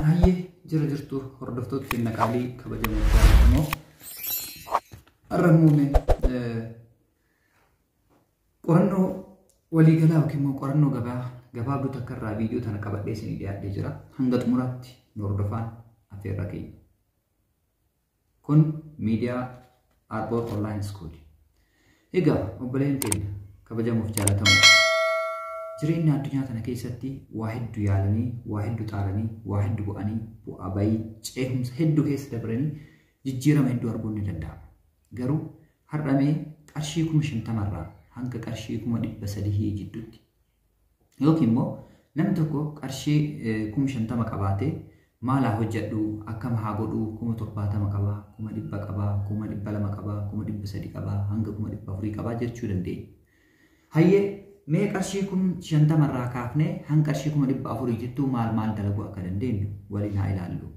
Hayyee jira jirtu hordoftoota keenya qaalii kabajamoo jaallatamoo har'a muummee qorannoo waliigalaa yookiin immoo qorannoo gabaa gabaabduu takka irraa viidiyoo tana qabadhee isinii dhiyaatee jira hanga xumuraatti nu hordofaa affeerraa keenya. Kun miidiyaa Arbor Online School. Egaa obboleen keenya kabajamuuf jaalatamu jireenya addunyaa tana keessatti waa heddu yaalanii, waa heddu xaaranii, waa heddu bu'anii, bu'aa bayii, ceehumsa heddu keessa dabranii jijjiirama hedduu arguun ni danda'ama. Garuu har'amee qarshii kuma shantamarraa hanga qarshii kuma dhibba sadihii jidduutti Yookiin immoo namni tokko qarshii kuma shantama qabaatee maal haa hojjedhu akkam haa godhu kuma torbaatama qaba kuma dhibba qaba kuma dhibba lama qaba kuma dhibba sadi qaba hanga kuma dhibba afurii qaba jechuu dandeenya. Hayyee mee qarshii kun shantama irraa kaafnee hanga qarshii kuma dhibba afurii jittuu maal maal dalaguu akka dandeenyu waliin haa ilaallu.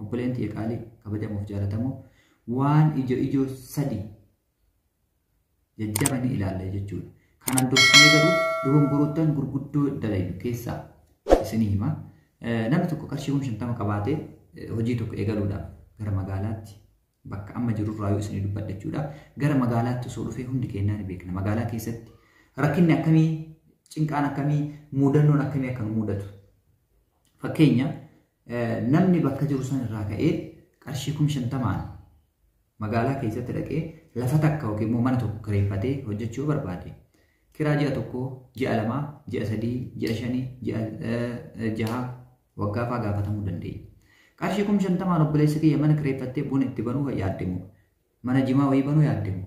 Obboleen tiyya qaalii kabajamuuf jaalatamoo waan ijo ijoo sadi jajjaba ni ilaalla jechuudha. Kanaan dursinee garuu dogongoroottan gurguddoo dalaynu keessaa isinii hima. Namni tokko qarshii kuma shantama qabaatee hojii tokko eegaluudhaaf gara magaalaatti bakka amma jirurraa yoo isinii dubbadhe jechuudha. Gara magaalaatti osoo dhufee hundi keenyaa ni beekna. Magaalaa keessatti rakkinni akkamii, cinqaan akkamii, muudannoon akkamii akka nu muudatu. Fakkeenya Namni bakka jiru san irraa ka'ee qarshii kum shantamaan magaalaa keessatti dhaqee lafa takka yookiin immoo mana tokko kireeffatee hojjechuu yoo barbaade kiraa ji'a tokko, ji'a lamaa, ji'a sadii, ji'a shanii, ji'a jaha waggaa fa'aa gaafatamuu dandeenya. Qarshii kum shantamaan obboleessa kiyya mana kireeffattee buna itti banuu yaaddimu. Mana jimaa wayii banuu yaaddimu.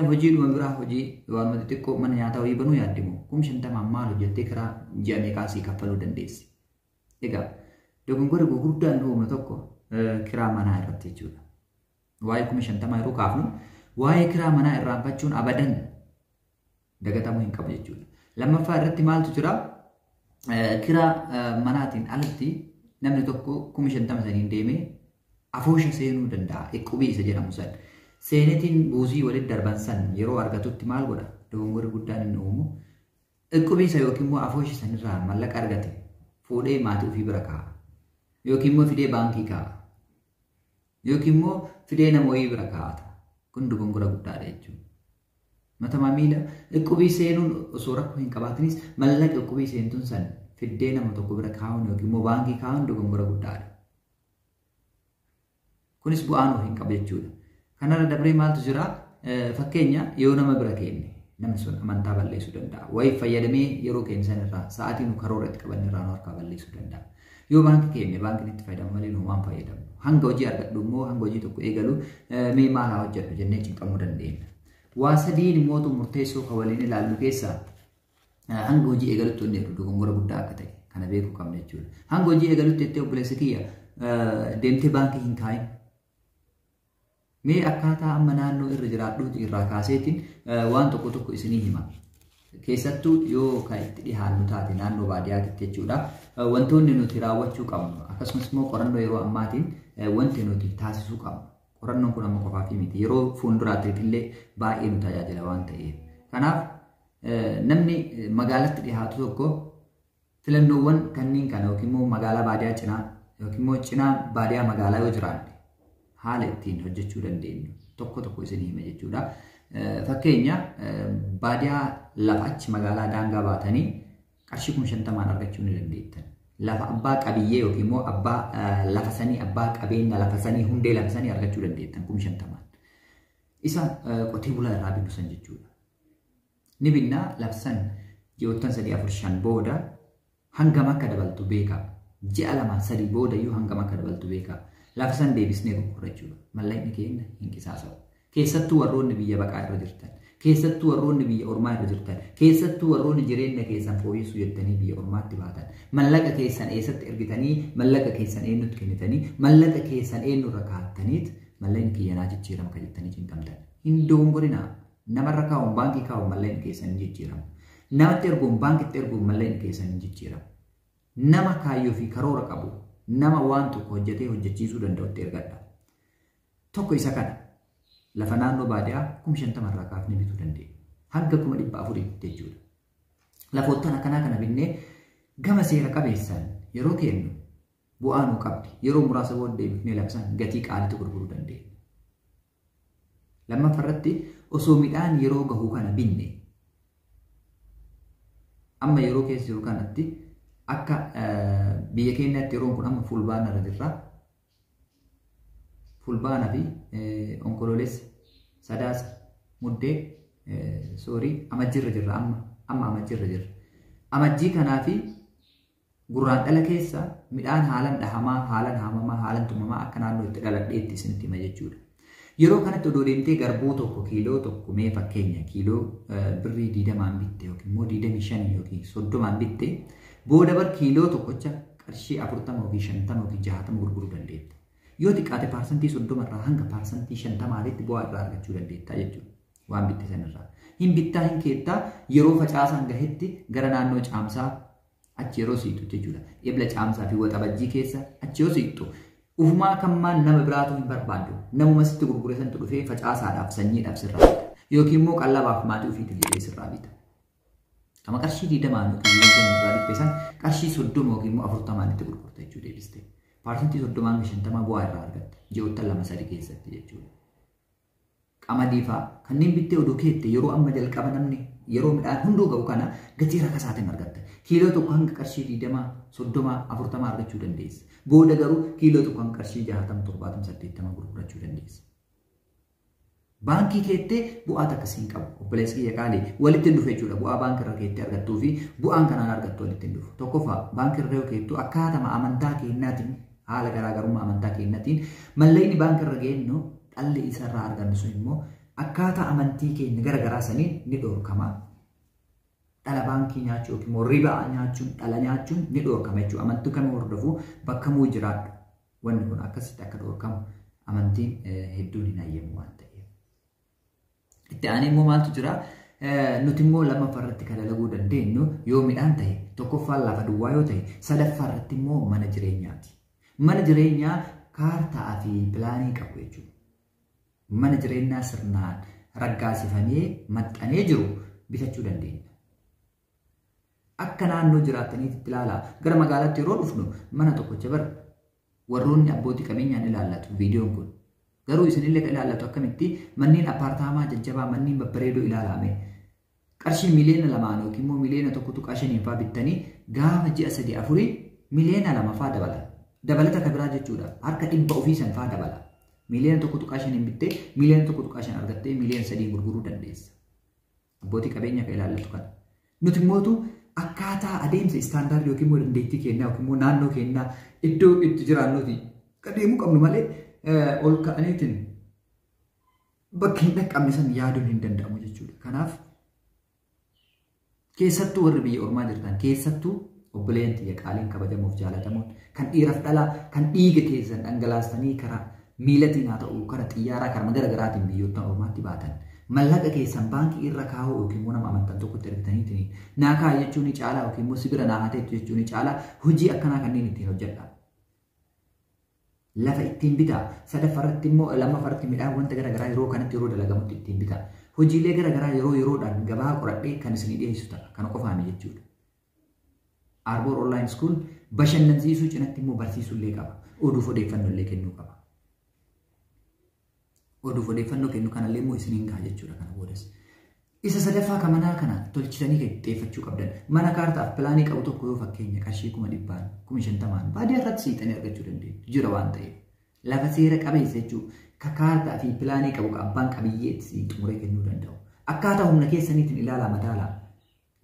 Hojii dhuma biraa hojii waanuma xixiqqoo mana nyaataa wayii banuu yaaddimu. Kum shantamaan maal hojjettee kiraa ji'a meeqaa sii kaffaluu dandeessi? Egaa dogongora gurguddaa inni uumnu tokko kiraa manaa irratti jechuudha. Waa'ee kuma shantamaa yeroo kaafnu waa'ee kiraa manaa irraanfachuun abadan dagatamuu hin qabu jechuudha. Lammaffaa irratti maaltu jira? Kiraa manaatiin alatti namni tokko kuma shantama saniin deemee afoosha seenuu danda'a. Iqqubii isa jedhamu san. Seenetiin buusii walitti darban san yeroo argatutti maal godha? Dogongorri guddaan inni uumu Iqqubii isa yookiin immoo afooshi sanirraa mallaqa argate fuudhee maatii ofii bira kaa'a. Yookiin immoo fidee baankii kaa'a. Yookiin immoo fidee nama wayii bira kaa'ata. Kun dogongora guddaadha jechuudha. Matamaa miila iqqubii seenuun osoo rakkoo hin qabaatinis mallaqa iqqubii seentuun san fiddee nama tokko bira kaa'uun yookiin immoo baankii kaa'uun dogongora guddaadha. Kunis bu'aa nuuf hin qabu jechuudha. Kanarra dabree maaltu jira? Fakkeenya yoo nama bira keenne namni sun amantaa balleessuu danda'a. Wayiif fayyadamee yeroo keenya sanirraa sa'aatii nu karoora itti qabanne irraa nu harkaa balleessuu danda'a. Yoo baankii keenne baankiin itti fayyadamu malee nu waan fayyadamu. Hanga hojii argadhu immoo hanga hojii tokko eegalu mee maal haa hojjedhu jennee cinqamuu dandeenya. Waa sadiin immoo murteessoo kan waliin ilaallu keessaa hanga hojii eegalutti wanni jedhu dogongora guddaa akka ta'e kana beekuu qabna jechuudha. Hanga hojii eegalutti jettee obboleessa kiyya deemtee baankii hin kaa'in. Mee akkaataa amma naannoo irra jiraadhuuti irraa kaaseetiin waan tokko tokko isinii hima. Keessattuu yoo kan itti dhihaannu taate naannoo baadiyyaatitti jechuudha. Wantoonni nuti raawwachuu qabnu akkasumas immoo qorannoo yeroo ammaatiin wanti nuti taasisuu qabnu. Qorannoon kun amma qofaafii miti. Yeroo fuulduraatti illee baay'ee nu tajaajila waan ta'eef. Kanaaf Namni magaalatti dhihaatu tokko filannoowwan kanneen kana yookiin immoo magaalaa baadiyaa cinaa yookiin immoo cinaa baadiyaa magaalaa yoo jiraanne haala ittiin hojjechuu dandeenyu tokko tokko isin hima jechuudha. Fakkeenya baadiyaa lafa achi magaalaa daangaa baatanii qarshii kuma shantamaan argachuu ni dandeettan. Lafa abbaa qabiyyee yookiin immoo abbaa lafa sanii abbaa qabeenya lafa sanii hundee lafa sanii argachuu dandeettan kuma shantamaan. Isa qotee bulaa irraa binnu san jechuudha. Ni binnaa labsan ji'oottan sadii afur shan booda hangam akka dabaltu beekaa. Ji'a lama sadii booda iyyuu hangam akka dabaltu beekaa. Labsan deebisnee gurgurra jechuudha. Mallaqni keenya hin qisaasa'u. Keessattuu warroonni biyya baqaa irra jirtan, keessattuu warroonni biyya ormaa irra jirtan, keessattuu warroonni jireenya keessan fooyyessuu jettanii biyya ormaatti baatan, mallaqa keessan eessatti ergitanii, mallaqa keessan eenyutti kennitanii, mallaqa keessan eenyurra kaa'attaniit mallaqni kiyyanaa jijjiirama kan jettanii cinqamtan. Hin dogongorinaa. Namarra kaa'uun baankii kaa'uun malleen keessan hin jijjiiramu. Namatti erguun baankitti erguun malleen keessan hin jijjiiramu. Nama kaayyoo fi karoora qabu nama waan tokko hojjetee hojjechiisuu danda'utti ergadha. Tokko isa kana lafa naannoo baadiyaa kuma shantama irraa kaafnee bituu dandeenya. Hanga kuma dhibba afuriitti jechuudha. Lafoottan akkanaa kana binnee gama seera qabeessaan yeroo kennu bu'aa nuu qabdi. Yeroo muraasa booddee bifnee labsaan gatii qaalitti gurguruu dandeenya. Lammaffa irratti osoo midhaan yeroo gahu kana binne amma yeroo keessa jiru kanatti akka biyya keenyaatti yeroon kun amma fulbaana irra jirra. Fulbaana fi onkoloolessa sadaasa muddee soorii amajjii irra jirra amma amma amajjii irra jirra. Amajjii kanaa fi Gurraandhala keessa midhaan haalan dhahamaa, haalan haamamaa, haalan tumamaa akka naannoo itti dhaladheetti isinitti hima jechuudha. Yeroo kanatti odoo deemtee garbuu tokko kiiloo tokko mee fakkeenya kiiloo birrii diidamaan bitte yookiin immoo diidamii shan yookiin soddomaan bitte booda bar kiiloo tokkocha qarshii afurtama yookiin shantama yookiin jahatama gurguruu dandeetta. Yoo xiqqaate paarsantii soddoma irraa hanga paarsantii shantamaatitti bu'aa irraa argachuu dandeetta jechuudha. Waan bitte sanirraa. Hin bittaa hin keettaa yeroo facaasaan gahetti gara naannoo caamsaa achi yeroo siqxu jechuudha. Ebla caamsaa fi waxabajjii keessa achi yoo siqxu ufumaa kammaan nama biraatu hin barbaadu. Namuma sitti gurgure santu dhufee facaasaadhaaf sanyiidhaaf sirraa bita. Yookiin immoo qallabaaf maatii ofiitiif jedhee sirraa bita. Kama qarshii diidamaan yookiin diinagdeen irraa bitte san qarshii soddoma yookiin immoo afurtamaan itti gurgurta jechuu deebiste. Paarsantii soddomaan shantamaa bu'aa irraa argatta. Ji'oottan lama sadi keessatti jechuudha. qamadii faa kanneen bittee odoo keette yeroo amma jalqaba namni yeroo midhaan hunduu ga'u kana gatii rakasaatiin argatta. Kiiloo tokko hanga qarshii 20, 30, 40 argachuu dandeessa. Booda garuu kiiloo tokko hanga qarshii 60, 70, 80 gurgurachuu dandeessa. Baankii keettee bu'aa takka siin qabu. Obboleessi kiyya qaalii walitti hin dhufe jechuudha. Bu'aa baankii irra keettee argattuu fi bu'aan kanaan argattu walitti hin dhufu. Tokkoffaa baankii irra yoo keettu akkaatama amantaa keennaatiin Haala garaagarummaa amantaa keenyatiin mallayni baanka irra geennu dhalli isa irraa argannu sun immoo akkaataa amantii keenya gara garaa saniin ni dhorkama. Dhala baankii nyaachuu yookiin immoo ribaa nyaachuun dhala nyaachuun ni dhorkama jechuudha. Amantii kamuu hordofu bakka muu jiraadhu. Wanni kun akkasitti akka dhorkamu amantiin hedduun hin hayyamu waan ta'eef. Itti aanee immoo maaltu jira? Nuti immoo lammaffaa irratti kan dalaguu dandeenyu yoo midhaan ta'e tokkoffaan lafa duwwaa yoo ta'e sadaffaa irratti immoo mana jireenyaati. Mana jireenyaa kaartaa fi pilaanii qabu jechuudha. Mana jireenyaa sirnaan raggaasifamee maxxanee jiru bitachuu dandeenya. Akka naannoo jiraattaniitti ilaalaa gara magaalaatti yeroo dhufnu mana tokkocha bara Warroonni abbooti qabeenyaan ilaallatu viidiyoon kun. Garuu isinillee ka ilaallatu akkamitti manneen appaartaamaa jajjabaa manneen babbareedoo ilaalaame. Qarshii miliyoona lamaan yookiin immoo miliyoona tokko tuqaa shaniin faa bittanii gaafa ji'a sadii afurii miliyoona lama faa dabala. Dabalata ka biraa jechuudha. Harka dhibba ofii san faa dabala. Miliyoona tokko tuqaa shaniin bittee miliyoona tokko tuqaa shan argattee miliyoona sadiin gurguruu dandeessa. abbootii qabeenyaa kan ilaallatu kana. Nuti mootu akkaataa adeemsa istaandaardii yookiin immoo dandeettii keenyaa yookiin immoo naannoo keenyaa iddoo itti jiraannuti kan deemuu qabnu malee ol ka'aniitiin bakka hin dhaqqabne san yaaduun hin danda'amu jechuudha. Kanaaf keessattuu warri biyya ormaa jirtan keessattuu Obboleeyyan tiyya qaaliin kabajamoof jaalatamoon kan dhiiraf dhalaa kan dhiiga keessan dhangalaastanii karaa miilatiin haa ta'u kara xiyyaaraa karama gara garaatiin biyyoottan ormaatti baatan mallaqa keessan baankii irra kaa'uu yookiin immoo nama amantan tokkotti ergitaniitiin naa kaa'i jechuun ni caalaa yookiin immoo sibira naa haateettu jechuun ni caalaa hojii akkanaa kanneen ittiin hojjedha. Lafa ittiin bitaa sadaffarratti immoo lammaffaratti midhaan wanta gara garaa yeroo kanatti yeroo dalagamutti ittiin bitaa hojiilee gara garaa yeroo yeroodhaan gabaa qoradhee kan isinii dhiyeessu ta'a kana qofaami jechuudha. Arboor Online School bashannansiisuu cinatti immoo barsiisuu illee qaba. Oduuf odeeffannoo illee kennuu qaba. Oduuf odeeffannoo kennu kanallee immoo isiniin gaha jechuudha kana boodas. Isa sadaffaa kan manaa kana tolchitanii kan xiyyeeffachuu qabdan. Mana kaartaaf pilaanii qabu tokko yoo fakkeenya qarshii kuma dhibbaan, kuma shantamaan baadiyyaa irratti siixanii argachuu dandeenya. Jira waan ta'eef. Lafa seera qabeessa jechuun ka kaartaa fi pilaanii qabu ka abbaan qabiyyee ittiin xumuree kennuu danda'u. Akkaataa humna keessaniitiin ilaalaa madaalaa.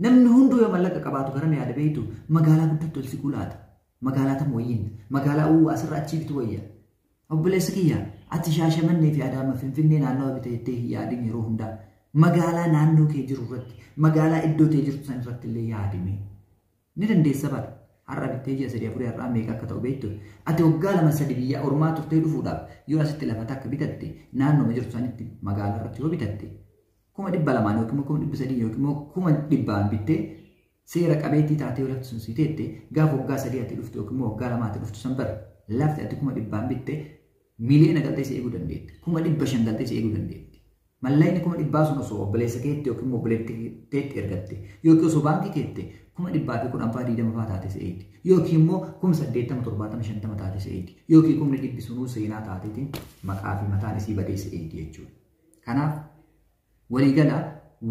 Namni hunduu yoo mallaqa qabaatu garam yaada beektu magaalaa guddattu ol siquu laata. Magaalaa tam wayyiin magaalaa uwwaa asirra achii bitu wayya. Obboleessa kiyya ati shaashamannee fi adaama finfinnee naannawa bita jettee hin yaadin yeroo hundaa. Magaalaa naannoo kee jiru irratti magaalaa iddoo tee jirtu san irratti illee yaadime. Ni dandeessa bara. Har'a bittee ji'a sadii afurii har'aa meeqa akka ta'u beektu. Ati waggaa lama sadi biyya ormaa turtee dhufuudhaaf yoo asitti lafa takka bitatte naannooma jirtu sanitti magaalaa irratti yoo bitatte kuma dhibba lamaan yookiin immoo kuma dhibba sadii yookiin immoo kuma dhibbaan bittee seera qabeettii taatee yoo lafti sun si teette gaafa waggaa sadii ati dhuftu yookiin immoo waggaa lamaa ati dhuftu san bara lafti ati kuma dhibbaan bitte miliyoona galtee si eeguu dandeetti kuma dhibba shan galtee si eeguu dandeetti mallayni kuma dhibbaa sun osoo obboleessa keetti yookiin immoo obboleetteetti ergatte yookiin osoo baankii keette kuma dhibbaa fi kudhan faa diidama faa taate si eegdi yookiin immoo kuma saddeettama torbaatama shantama taate si eegdi yookiin kumni dhibbi sunuu seenaa taateetiin maqaa fi mataan isii badee si eegdi jechuudha. Kanaaf waliigala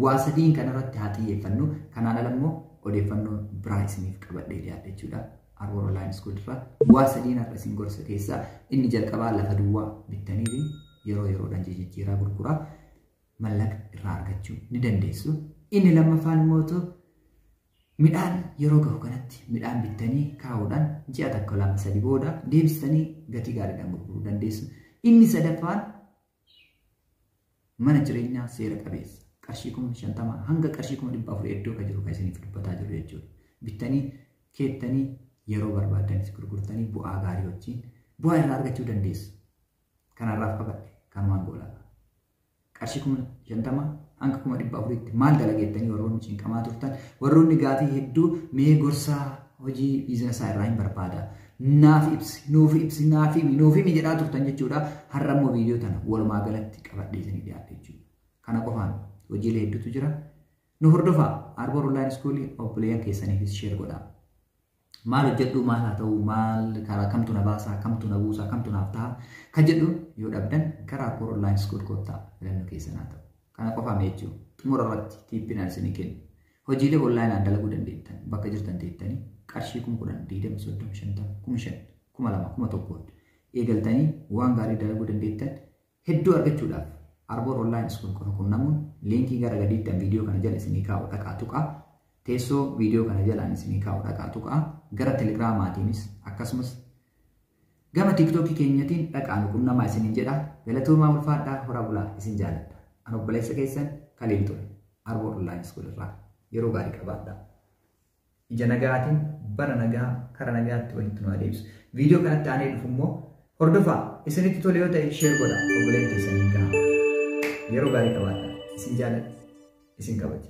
waa sadiin kanarratti haa xiyyeeffannu. Kanaan ala immoo odeeffannoo biraa isiniif qabadhee dhiyaadhe jechuudha. Arboor Online School irraa waa sadiin har'a isin gorsa keessaa inni jalqabaa lafa duwwaa bittaniiti yeroo yeroodhaan jijjiiraa gurguraa mallaqa irraa argachuu ni dandeessu. Inni lammaffaan immoo ta'u midhaan yeroo gahu kanatti midhaan bittanii kaa'uudhaan ji'a tokko lama sadi booda deebistanii gatii gaariidhaan gurguruu dandeessu. Inni sadaffaan mana jireenyaa seera qabeessa qarshii kuma shantama hanga qarshii kuma dhibba afur iddoo kan jiru kan isiniif dubbataa jiru jechuudha. Bittanii keettanii yeroo barbaaddanis gurgurtanii bu'aa gaarii wajjin bu'aa irraa argachuu dandeessu. Kanarraaf qabadhe kan waan goolaa. Qarshii kuma shantama hanga kuma dhibba afuritti maal dalageettanii warroonni cinqamaa turtan warroonni gaafii hedduu mee gorsaa hojii biizinasaa irraa hin barbaada. Naaf ibsi, nuuf ibsi, naaf himi, nuuf himi jedhaa turtan jechuudha. Har'a immoo viidiyoo tana walumaa galatti qabadhee isinii dhiyaadhe jechuudha. Kana qofaan hojiilee hedduutu jira. Nu hordofaa Arboor Online School obboleeyyan keessaniifis sheer godhaa. Maal hojjedhu maal haa ta'u maal karaa kamtu na baasaa kamtu na buusaa kamtu naaf ta'a kan jedhu yoo dhabdan gara Arboor Online School koottaa filannoo keessan haa ta'u. Kana qofaa meechuu xumura irratti tiippinaan isinii kennu. Hojiilee onlaayinaan dalaguu dandeettan bakka jirtan teettanii qarshii kum 10, 20, 30, 50, kum 5, kuma 2, kuma 1 eegaltanii waan gaarii dalaguu dandeettan hedduu argachuudhaaf Arbor Online School qofa qunnamuun liinkii gara gadiittan viidiyoo kana jala isinii kaa'u dhaqaa tuqaa teessoo viidiyoo kana jalaan isinii kaa'u dhaqaa tuqaa gara telegiraamaatiinis akkasumas Gama tiktoki keenyatiin dhaqaa nu qunnamaa isiniin jedha. Galatoomaa ulfaadhaa horaa bulaa isin jaaladha. An obboleessa keessan Kaliil ture. Arbor online school irraa. Yeroo gaarii qabaadhaa. Ija nagaatiin bara nagaa kara nagaatti walitti nu adeemsu. Viidiyoo kanatti aanee dhufu immoo hordofaa isinitti tole yoo ta'e sheer godha obboleen keessaniin gahaa. Yeroo gaarii qabaadhaa. Isin jaaladha. Isin kabaja.